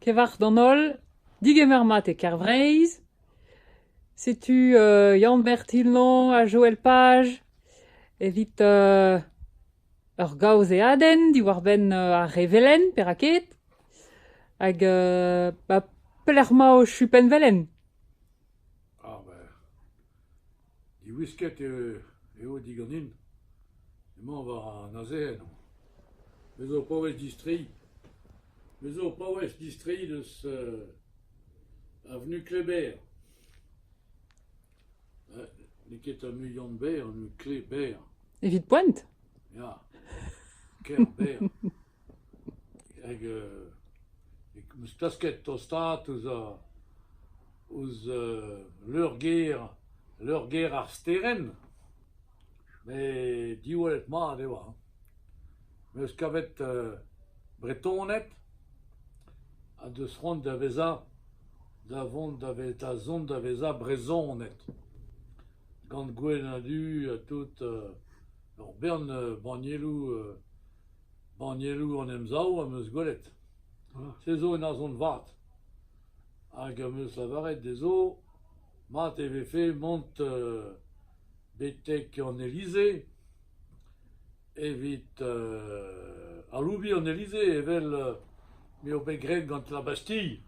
Kevarzh d'an holl, digemer mat e Kervreizh. Setu Yann-Ber Tillan ha Joël Page evit ur gaozeadenn diwar-benn ar revelenn, perak ket. Hag pelec'h emañ ho chupenn-velen ? Diwisket eo diganin. Emañ war an azezenn. Me zo o paouez distreiñ. Me zo o paouez distreiñ deus avenue Kléber. N'eo ket ar muiañ-berr, avenue Kléber. Evit poent ? Ya, Kerbêr. hag eo 'm eus klasket tostaat ouzh ouzh leur-gêr leur-gêr ar sterenn met diwallet mat eo hañ. Me 'm eus kavet Bretoned ha deus c'hoant da vezañ da vont da ve- da zont da vezañ Brezhoned gant gwenn-ha-du ha tout ur bern bannieloù Bannieloù an Emsav am eus gwelet. Se zo un arzhont vat. Hag am eus lavaret dezho mat e vefe mont betek an Elise evit aloubiñ an Elise evel m'eo bet graet gant La Bastille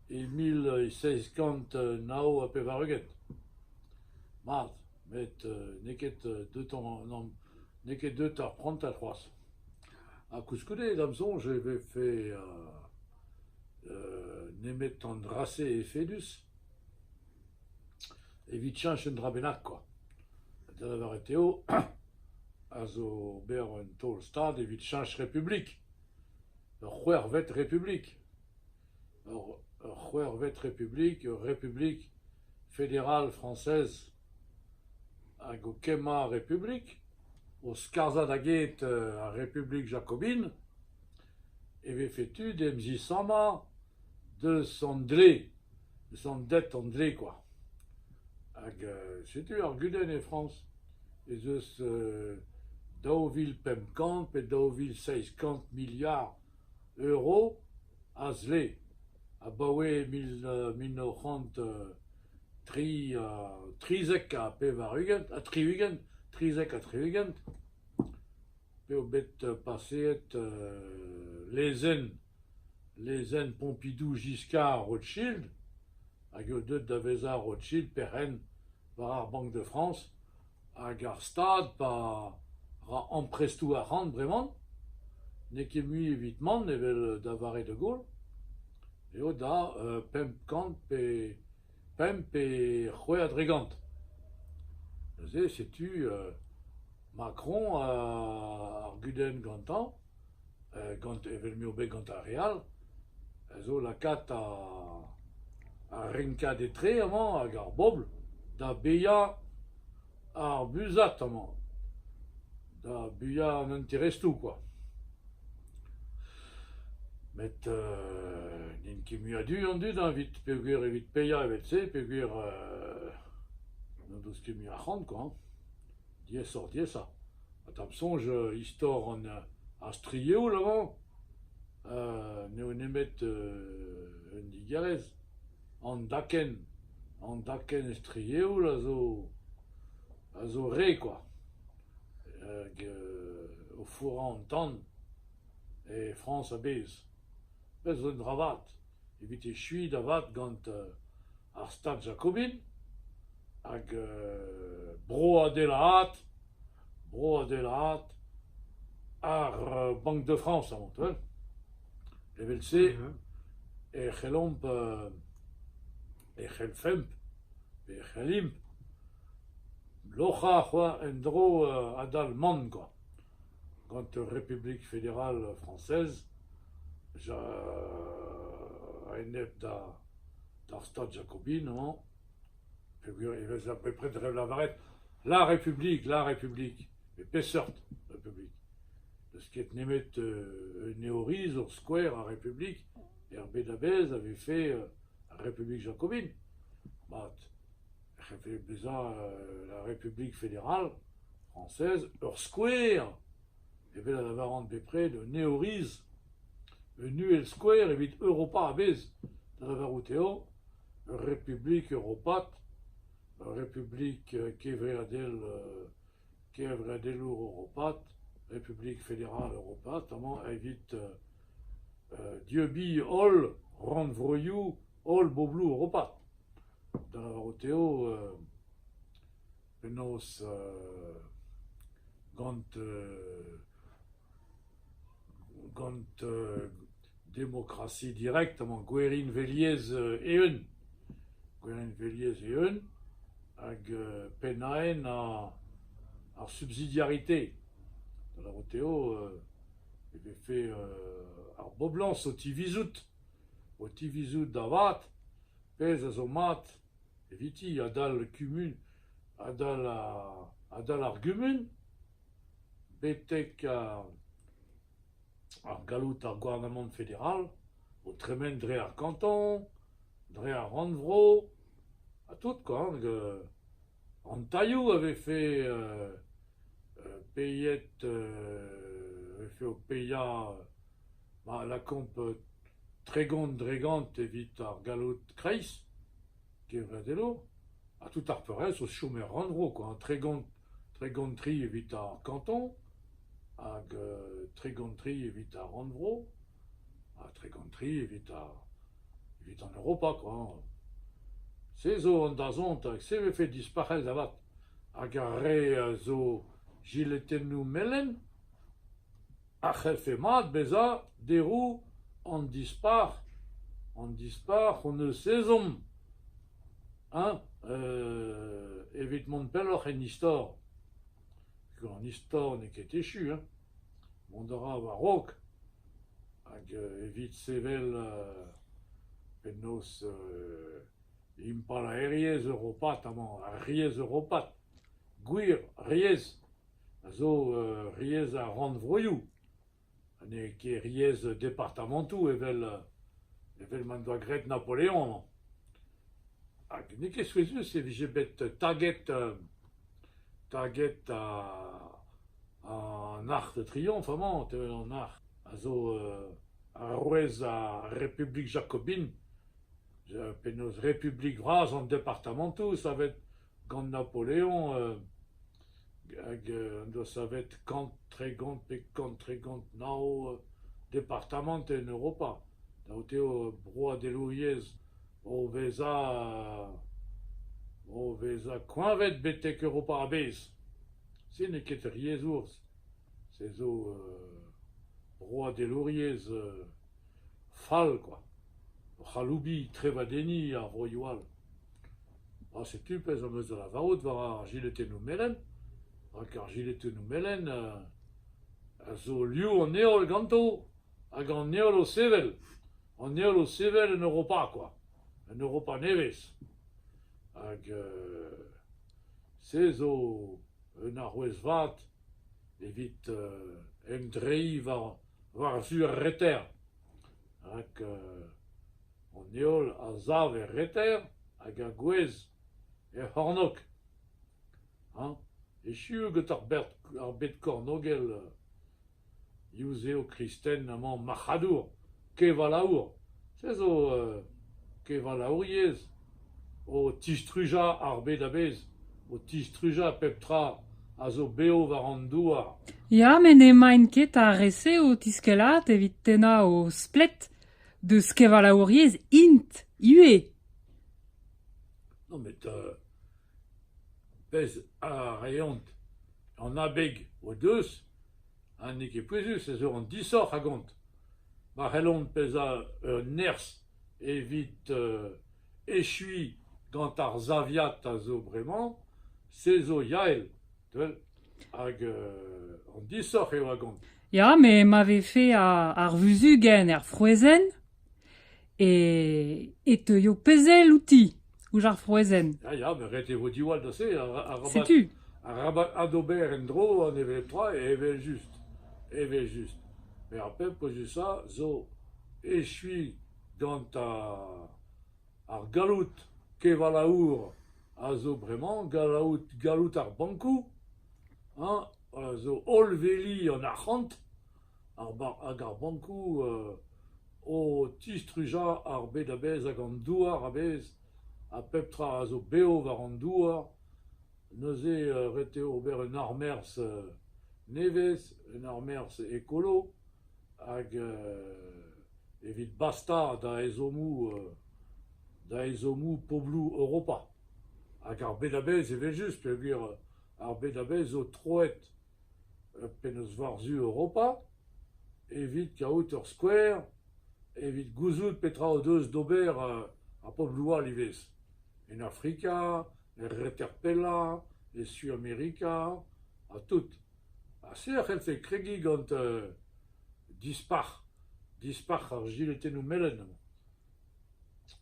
e mil seizh kant nav ha pevar-ugent. Mat. met n'eo ket deut n'eo ket deut ar prantad c'hoazh. Ha koulskoude, da'm soñj, e vefe nemet an dra-se efedus evit cheñch un dra bennak kwa. Da lavaret eo a zo ober un taol-stad evit cheñch Republik, ur c'hwec'hvet Republik. Ur c'hwec'hvet republik, ur republik federal frañsez hag o kemmañ ar republik, o skarzhañ da get ar republik jakobin, e vefe tu d'em zisammañ deus an dle, deus an det an dle kwa. Hag setu ar gudenn e Frañs ez eus daou vil pemp kant pe daou vil seizh kant miliard. Euro a zle abaoe mil mil nav c'hant tri ha trizek ha pevar-ugent ha tri-ugent, trizek ha tri-ugent p'eo bet paseet lezenn lezenn Pompidou Giscard Rothschild hag eo deuet da vezañ Rothschild perc'henn war ar Banque de France Hag ar stad pa ra amprestoù arc'hant bremañ n'eo ket mui evit mont evel da vare de Gaulle eo da pemp kant pe pemp pe c'hwec'h a dregont. Neuze setu Macron ar gudenn gantañ. gant evel m'eo bet gant ar re all, a zo lakaat ar renkad etre amañ hag ar bobl da baeañ ar buzhad amañ, da baeañ an interestoù kwa. Met n'int ket muiadu an dud hañ evit peogwir evit paeañ evel-se peogwir n'o deus ket mui arc'hant kwa. Diaesoc'h-diaesañ ha da'm soñj istor ar strieoù lavaroñ n'eo nemet un digarez. An dakenn an dakenn strieoù a zo a zo re kwa hag o fourrañ an tan e Frañs a-bezh. Pezh zo un dra vat. evit echuiñ da vat gant ar Stad jakobin hag broadelaat broadelaat ar Banque de France avantal evel-se e c'hellomp e c'hellfemp pe e c'hellimp loc'hañ en-dro adal-man kwa gant Republik Federal Frañsez a-enep d'ar Stad jakobin emañ peogwir e vez bepred da lavaret la Republik, la Republik, pe peseurt Republik. N'eus ket nemet un eorizor skouer a republik er bed a-bezh a vez fae ar Republik jakobin. Mat. c'hellfe bezañ la République fédérale française ur skouer evel a lavaran bepred un eoriz, un uhelskouer evit Europa a-bezh, da lavarout eo ur republik europat, ur republik kevreadel kevreadelour europat, Republik federal europat amañ evit dieubiñ holl rannvroioù holl bobloù Europa, da lavarout eo penaos gant gant demokrasi direkt emañ Gwerinveliezh eeun, Gwerinveliezh eeun hag pennaenn ar subsidiarité, da lavarout eo e vefe ar boblañs o tivizout O tivizout da vat, pezh a zo mat eviti adal kumun adal adal ar gumun betek ar galloud ar gouarnamant federal o tremen dre ar kanton, dre ar rannvro ha tout quoi hag an tailhoù a vefe peiet a vefe o paeañ Ma lakaomp tregont-dregont evit ar galloud kreiz kevredello ha tout ar peurrest o chom er rannvro quoi, tregont-tri evit ar kanton hag tregont-tri evit ar rannvro ha tregont-tri evit an Europa quoi. Se zo an dazont hag se vefe dispac'het avat hag ar re a zo jiletennoù melen. Ar c'hellfe mat bezañ deroù an dispac'h, an dispac'h hon eus ezhomm hein evit mont pelloc'h en istor. An istor n'eo ket echu hein, mont a ra war-raok hag evit sevel penaos impalaeriezh europat amañ, ar riez europat, gwir riez. a zo riez ar rannvroioù ha n'eo ket riez departamantoù evel evel m'en doa graet Napoleon. Hag n'eo ket souezhus e vije bet taget taget an Arc'h de Triomphe amañ, an Arc'h a zo arouez ar Republik jakobin. Penaos Republik vras an departamantoù savet gant Napoleon hag en doa savet kant, tregont pe kant, tregont, nav departamant en Europa, daout eo broadelouriezh o vezañ o vezañ koeñvet betek Europa a-bezh. Se n'eo ket ur yezh urzh, se zo broadelouriezh fall kwa, ur c'haloubi trevadenniñ a vroioù all. Ha setu pezh am eus da lavarout war ar jiletennoù melen, rak ar jiletennoù melen a zo liv an heol ganto hag an heol o sevel. An heol o sevel en Europa kwa, en Europa nevez. Hag se zo un arouez vat evit emdreiñ war-zu ar reter. Rak an heol a sav er reter hag a gouezh er c'hornôg. hañ echu gant ar bed kornôgel yuzev kristen amañ marc'hadour, kevalaour. Se zo kevalaouriezh o tistrujañ ar bed a-bezh, o tistrujañ pep tra a zo bev war an douar. Ya met n'emaint ket ar re-se o tiskellat evit tennañ o splet. Deus kevalaouriezh int ivez. Met pezh a reont an abeg o deus ha n'eo ket pouezus ez eo an disoc'h a gont. Ma c'hellont bezañ un nerzh evit echuiñ gant ar saviad a zo bremañ, se zo Yael, hag an disoc'h eo a gont. Ya, met ma vefe ar vuzugenn er frouezhenn e teuio pezh-ell outi, ouzh ar frouezhenn. Ya, ya, met ret e vo diwall da se. Setu. Arabat adober en-dro an evel-tra evel-just. Evel-just. Met ar pep pozusañ zo echuiñ gant ar galloud kevalaour a zo bremañ, galloud, galloud ar bankoù, a zo holl veli an arc'hant hag ar bankoù o tistrujañ ar bed a-bezh hag an douar a-bezh ha pep tra a zo bev war an douar. Neuze ret eo ober un armerzh nevez, un armerzh ekolo hag evit bastañ da ezhommoù da ezhommoù pobloù Europa. Hag ar bed a-bezh evel-just peogwir ar bed a vez zo troet penaos war-zu Europa evit kaout ur skouer, evit gouzout petra o deus d'ober ar pobloù all ivez, en Afrika, er reter pellañ, e Suamerika ha tout. Ha se a c'hellfe kregiñ gant dispac'h, dispac'h ar jiletennoù melen.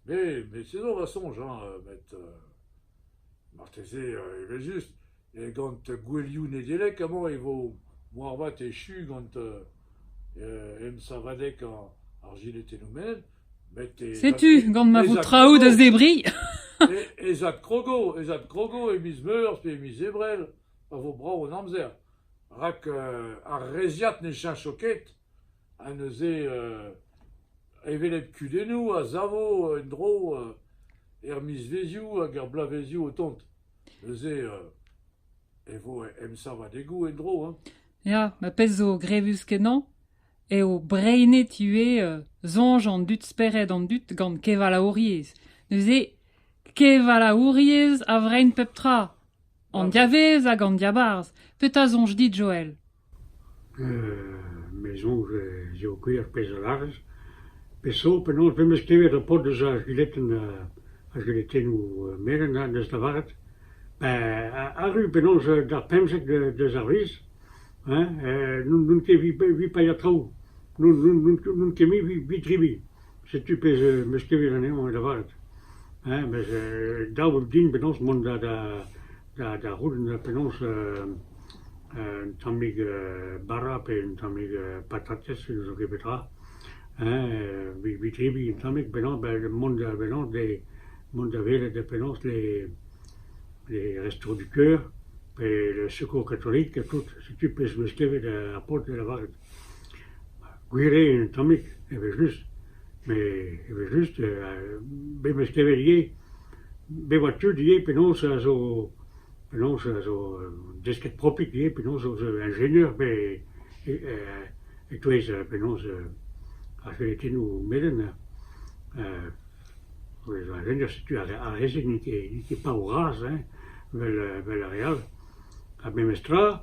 Me, me se zo va soñj, met... Marteze, evel-just, gant gouelioù Nedeleg amañ e vo moarvat echu gant emsavadeg ar jinetennoù menel. met e... Setu, gant ma vo traoù da zebriñ. ez adkrogo, ez adkrogo e miz Meurzh pe e miz Ebrel, pa vo brav an amzer. rak ar reizhiad ne cheñcho ket. Ha neuze hevelep kudennoù a savo en-dro er mizvezioù hag er bloavezioù o tont. Neuze e vo emsavadegoù en-dro hein. Ya, ma pezh zo grevus-kenañ eo breinet ivez soñj an dud spered an dud gant kevalaouriezh. Neuze kevalaouriezh a vrein pep tra, an diavez hag an diabarzh. Petra soñj dit Joel? Me soñj ez eo gwir pezh a lârez. Pe so penaos me'm eus klevet ar paotr deus ar c'huletenn ar c'huletennoù melen ha deus lavaret, ben arru penaos d'ar pemzek deus ar wezh hein n'on ket evit paeañ traoù, n'on ket mui evit dribilh. Setu pezh am eus klevet anezhañ lavaret. Hein mes dav eo din penaos mont da Da c'houlenn penaos un tammig bara pe un tammig patatez ne zo ket petra evit tebriñ un tammig mont da welet penaos les restos du coeur pe le secours catholique tout setu pezh 'm eus klevet ar paotr o lavaret. Gwir eo, un tammig, evel-just, met evel-just, memes kevel ivez, bet oa tud ivez penaos a zo penaos a zo desket propik ivez, penaos a zo enjeinier pe e-touez penaos ar felitennoù melen, ez eo enjeinier setu ar re-se n'int ket paour-razh, evel ar re all, ha memes tra,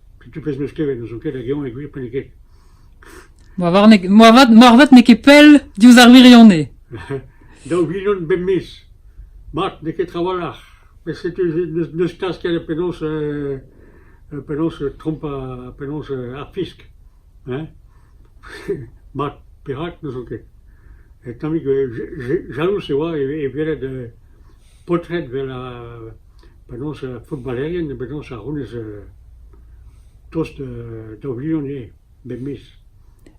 Pitou pezh 'm eus klevet n'ouzon ket hag eñ e gwir pe n'eo ket. Moarvat moarvat moarvat n'eo ket pell diouzh ar wirionez. Daou vilion bemdez. Mat, n'eo ket trawalc'h. Met setu n'eus n'eus kas ket da penaos euh penaos trompañ penaos ar fisk. Hein? Mat, perak n'ouzon ket. Tammig jalouz e oa e e welet paotred 'vel penaos footballerien, penaos a c'hounez tost daou vilion eo bep miz.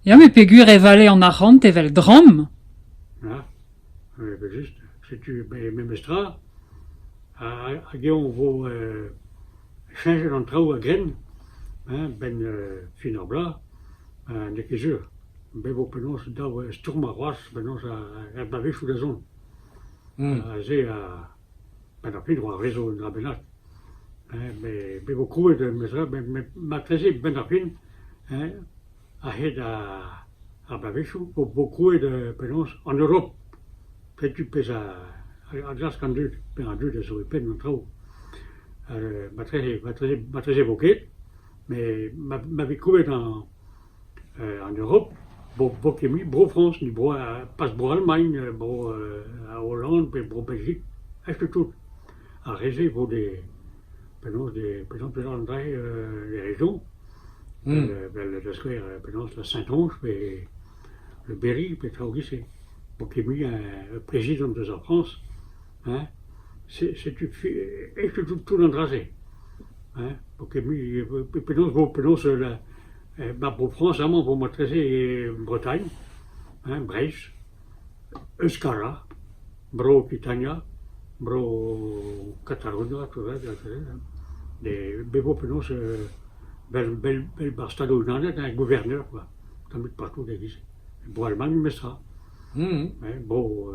Ya, met peogwir e vale an arc'hant evel dramm. Ya, evel-just. Setu memes tra. Hag eñ e vo cheñchet an traoù a-grenn, a-benn fin ar bloaz, n'eo ket sur. Bet vo penaos daou stourmer c'hoazh, penaos er bloavezhioù da zont. Aze a penn-ar-pryd oa rezo un dra bennak met me vo krouet matreze benn-ar-fin a-hed ar bloavezhioù vo krouet penaos an Europ. Setu pezh a glask an dud, pezh an dud a zo e penn an traoù. Matreze matreze vo ket met ma vez krouet En Europ, bo ket mui Bro-Frañs ni pas Bro-Almagn, Bro-Holland pe Bro-Belgik, aes tout. Ar re-se vo de penaos de peseurt-peseurt an dra de raison, vel da skouer penaos la Saint-Ange pe le Berry pe traoù 'giz-se. Bo ket mui plezidant eus ar Frañs. Hein, setu tout tout an dra-se, hein, penaos vo penaos ma Bro-Frañs amañ vo matrese Bretagne, hein, Breizh, Euskara, Bro-Okitania, Bro-Katalonia, tout va, bet vo penaos vel bar Stadoù-Unanet ha gouverner quoi, tamm ebet partout e-giz. Bro-Almagn memestra, hein, bro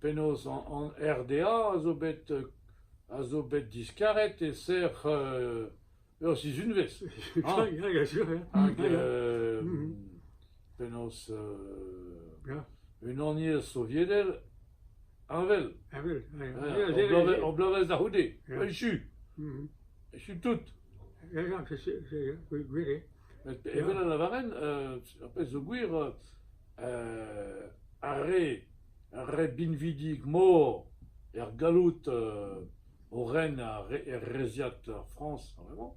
Penaos an RDA a zo bet a zo bet diskaret e-ser ur sizhunvezh hañ hag penaos Unaniezh Soviedel heñvel ur bloavezh da c'houde echu echu tout evel a lavaren ar pezh zo gwir ar re re binvidik-mor er galloud o ren er reziad Frañs a-vremañ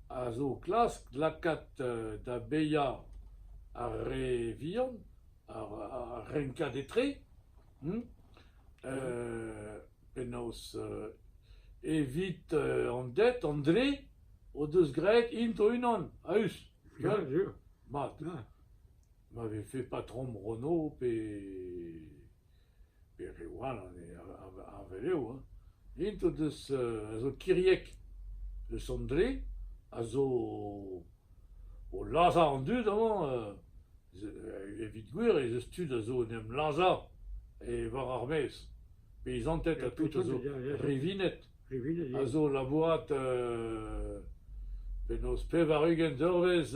a zo klask lakaat da baeañ ar re vihan, ar renkad etre penaos evit an ded an dre o deus graet int o-unan a-us mat. ma vefe patrom Renault pe pe reoù all anezhe ar velev hein, int o deus a zo kiriek. Le Sondre a zo o lazhañ an dud amañ evit gwir ez eus tud a zo en em lazhañ war ar maez. Peizanted ha tout a zo rivinet a zo labourat penaos pevar-ugent eurvezh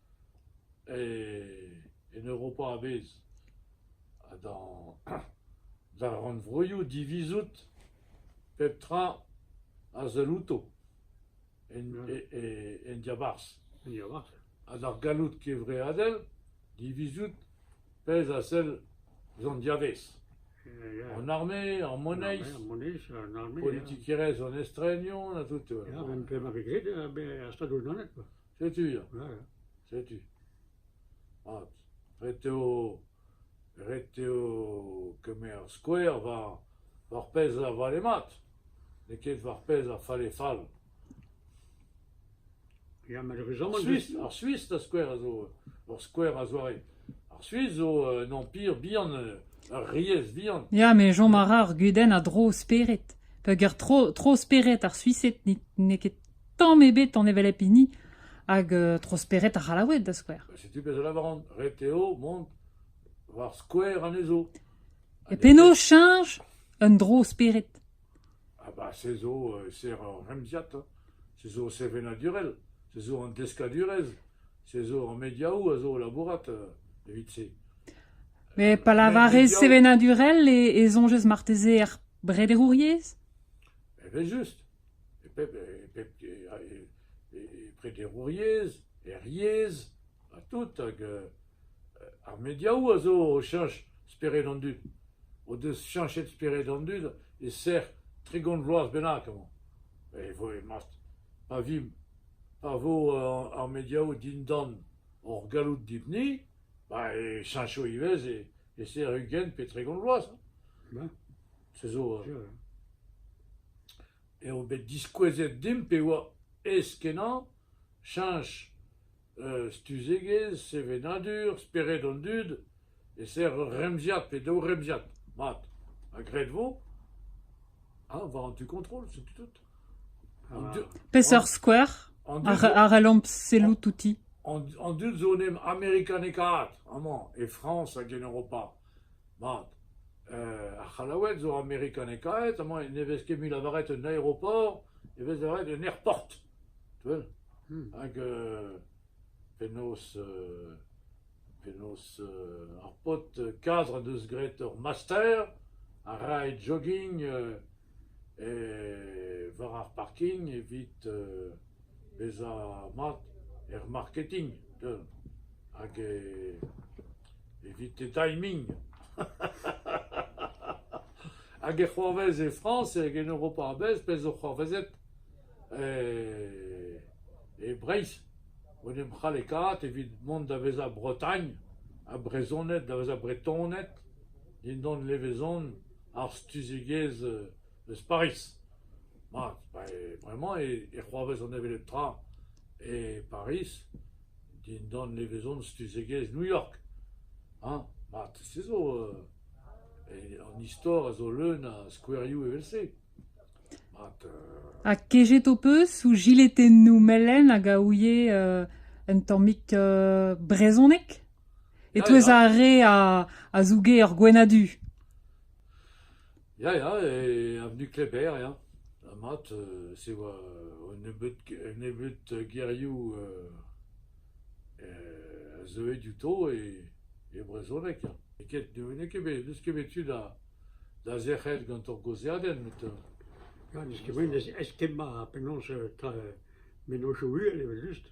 En Europa a-bezh ha d'ar rannvroioù divizout pep tra a sell outo en diabarzh. Ha d'ar galloud kevreadel divizout pezh a sell ouzh an diavez. An arme, ar moneiz, politikerezh an estrenioù ha tout. P'emañ bet graet er Stadoù-Unanet. Setu ya, setu. Mat, ret eo ret eo kemer skouer war ar pezh a vale mat, n'eo ket war pezh a falle fall. Ya, malheureusement... Ar Suis, ar skouer a zo ur skouer a-zoare. Ar Suis zo un empire bihan, ur riez bihan. Ya, me chom a ra ar gudenn a dro spered. Peogwir tro, tro spered ar Suised n'eo ket tamm ebet an hevelep hini hag tro spered ar C'hallaoued, da skouer. Setu pezh a lavaran, ret eo mont war skouer anezho. E penaos cheñch un dro spered? Ah bah, se zo ser ur remziad, se zo sevenadurel, se zo an deskadurezh, se zo an mediaoù a zo labourat evit se. Mais pas la varez sevenadurel et, et zonjez marteze er brederouriez? Eh ben juste. e pep e pep e prederouriezh, er yezh, ha tout hag ar mediaoù a zo o cheñch spered an dud, o deus cheñchet spered an dud e-serr tregont vloaz bennak amañ. E vo pa vimp pa vo ar mediaoù dindan hor galloud dibuni ba e cheñcho ivez e-serr ugent pe tregont vloaz. se zo eo bet diskouezet dimp e oa aes-kenañ cheñch stuzegezh sevenadur spered an dud e-ser ur remziad pe daou remziad mat ha graet vo ha war an tu kontrol setu tout. Peseurt skouer a c'hellomp sellout outi? An dud zo en em amerikanekaat amañ e Frañs hag en Europa. Mat, ar c'hallaoueg zo amerikanekaet, amañ ne vez ket mui lavaret un aeroport, e vez lavaret un airport, tu wel? Hag penaos penaos ar paotr kadr en deus graet ur master a rae jogging war ar parking evit bezañ mat er marketing hag evit e timing hag e c'hoarvez e Frañs hag en Europa a-bezh pezh zo c'hoarvezet e Breizh en em c'hallekaat evit mont da vezañ Bretagne ha Brezhoned da vezañ Bretoned dindan levezon ar stuzegezh eus Pariz. Ma, bremañ e c'hoarvez an hevelep tra e Pariz dindan levezon stuzegezh New York. Hañ, mat, se zo an istor a zo leun a skouerioù evel-se. Mat. Ha kejet ho peus ouzh jiletennoù melen hag a ouie un tammig brezhoneg ? E-touez ar re a zouge ur gwenn-ha-du. Ya, ya, e avenue Kléber, ya. Ha mat, se oa un nebeud, un nebeud gerioù a zeue diouto e, e brezhoneg, ya. N'eo ket bet, n'eus ket bet tu da, da zerc'hel gant hor gaozeadenn, met... Ya, n'eus ket bet, ez ket ma penaos, mennozhioù uhel evel-just.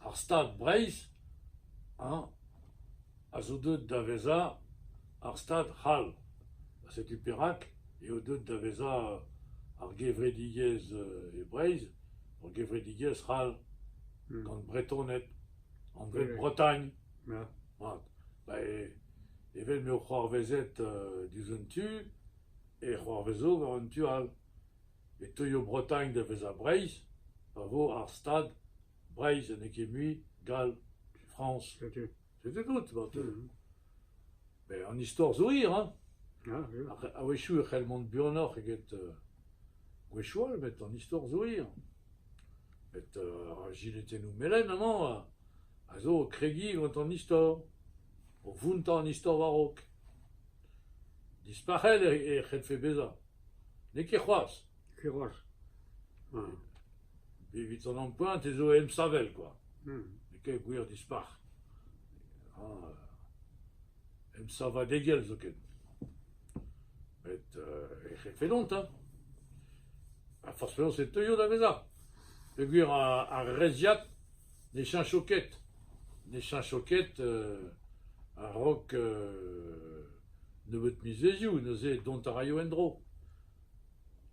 Ar Stad Breizh hañ a zo deuet da vezañ ar Stad c'hall. Setu perak eo deuet da vezañ ar gevredigezh e Breizh, ur gevredigezh c'hall gant Bretoned anvet Oui. Bretagne. Ya. Mat. Ba e- evel m'eo c'hoarvezet euh, diouzh un tu, e c'hoarvezo war un tu all. E teuio Bretagne da vezañ Breizh pa vo ar Stad Breizh ha n'eo ket mui, gall, Frañs, setet out marteze ? Met an istor zo hir hein ! A-wechoù e c'hell mont buanoc'h eget gwechall all met an istor zo hir. Met ar jiletennoù melen amañ a zo o kregiñ gant an istor, o vountañ an istor war-raok. Dispac'het e c'hellfe bezañ, n'eo ket c'hoazh. Ket c'hoazh. Evit an ampoent ez eo emsavel kwa, n'eo ket gwir dispac'h. Ah emsavadegezh zoken. Met er c'hefennont hein. Ha forzh penaos e teuio da vezañ. Peogwir ar reizhiad ne cheñcho ket. Ne cheñcho ket a-raok nebeut mizvezioù neuze dont a raio en-dro.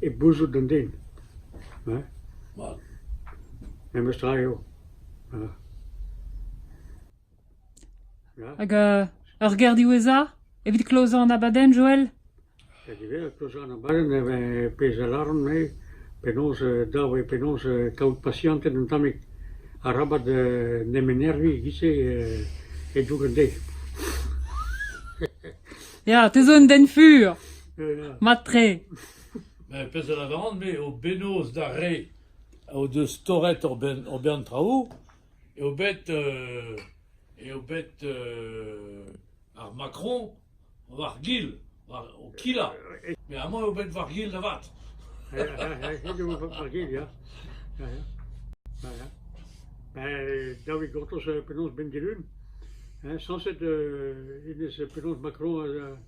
e bouzout an den hein, memestra eo ya. Hag ur ger diwezhañ evit klozañ an abadenn, Joel ? Hag ivez klozañ an abadenn e vez pezh a lâran-me penaos dav eo penaos kaout pasianted un tammig arabat nemenerviñ e-giz-se e-doug an deiz. Ya, te zo un den fur. Mat-tre. Ben, pezh a lavaran, me, o bennoz d'ar re o deus torret hor ben, hor bern traoù, eo bet, euh, eo bet euh, ar Macron war gil, war, o kila. Mais à moi, eo bet war gil avat. Ben, david gortoz penaos ben dilun. Eñ sañset hennezh penaos Macron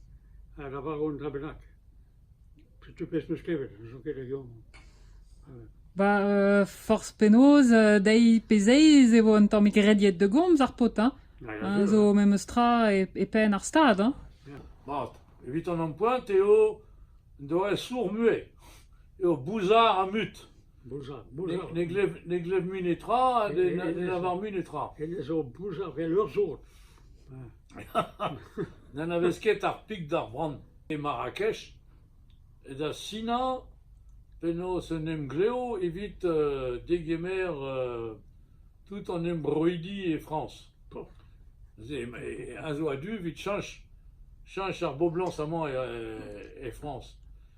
a lavaro un dra bennak. Setu pezh 'm eus klevet, n'ouzon ket hag eomp. Ba forzh penaos, deiz pe zeiz e vo un tammig rediet da gomz ar paotr hein. Zo memes tra e penn ar stad hein. Mat, evit an ampoent eo doareñ sourr-mue, eo bouzar ha mut. Ne glev mui netra ha ne lavar mui netra. Hennezh zo boujaf evel ur sod. N'anavez ket ar pik d'ar bran. E Marrakech, da sinañ penaos un emglev evit uh, degemer uh, tout an embroidi e Frañs. Un zo a-du evit chanch, chanch ar boblañs amañ e, e Frañs.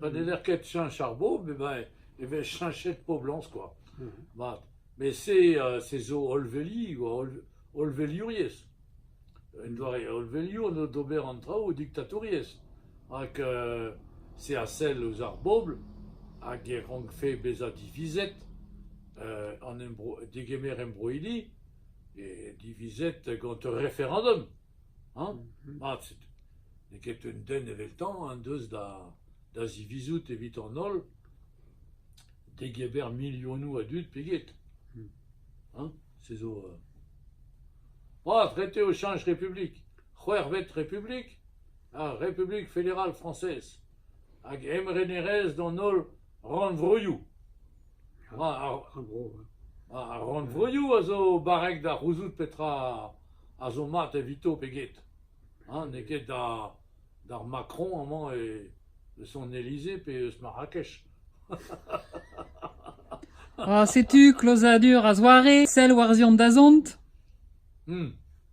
pa n'heller ket cheñch ar bobl emañ e vez cheñchet poblañs kwa, mat. Met se se zo hollveliñ oa hollveliouriezh. Un doare hollveliour eo d'ober an traoù diktatouriezh rak se a sell ouzh ar bobl hag e rankfe bezañ divizet an embro- degemer embroidi e divizet gant ur referendum. Hañ, mat setu. N'eo ket un den eveltañ en deus da da zivizout evit an holl degemer milionoù a dud pe get. Hañ, se zo … Mat, ret eo cheñch Republik. C'hwec'hvet Republik, ar Republik Federal Frañsez. Hag emrenerezh d'an holl rannvroioù. Ar rannvroioù a zo barrek da c'houzout petra a zo mat evito pe get. N'eo ket d'ar Macron amañ eus an Elysée pe eus Marrakech. setu klozadur a-zoare, sell war-ziant dazont.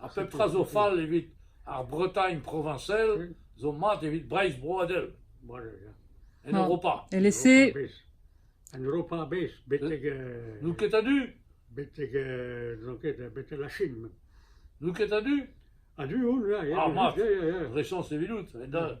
Ha pep tra zo fall evit ar Bretagne proviñsel zo mat evit Breizh broadel, en Europa. Elese En Europa a-bezh, betek... N'out ket a-du? Betek, n'on ket, betek la Chine. N'out ket a-du? A-du on, ya, ya. Ah, mat, Rechañs evidout, en da...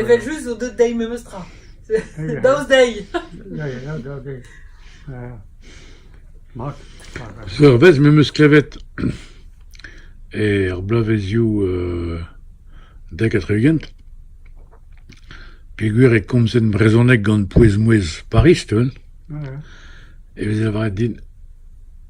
Evel-just zo deut dezhi memes tra, daoust dezhi. Ur wezh m'em eus klevet er bloavezioù dek ha tri-ugent peogwir e komzen brezhoneg gant pouez-mouezh Pariz, e veze lavaret din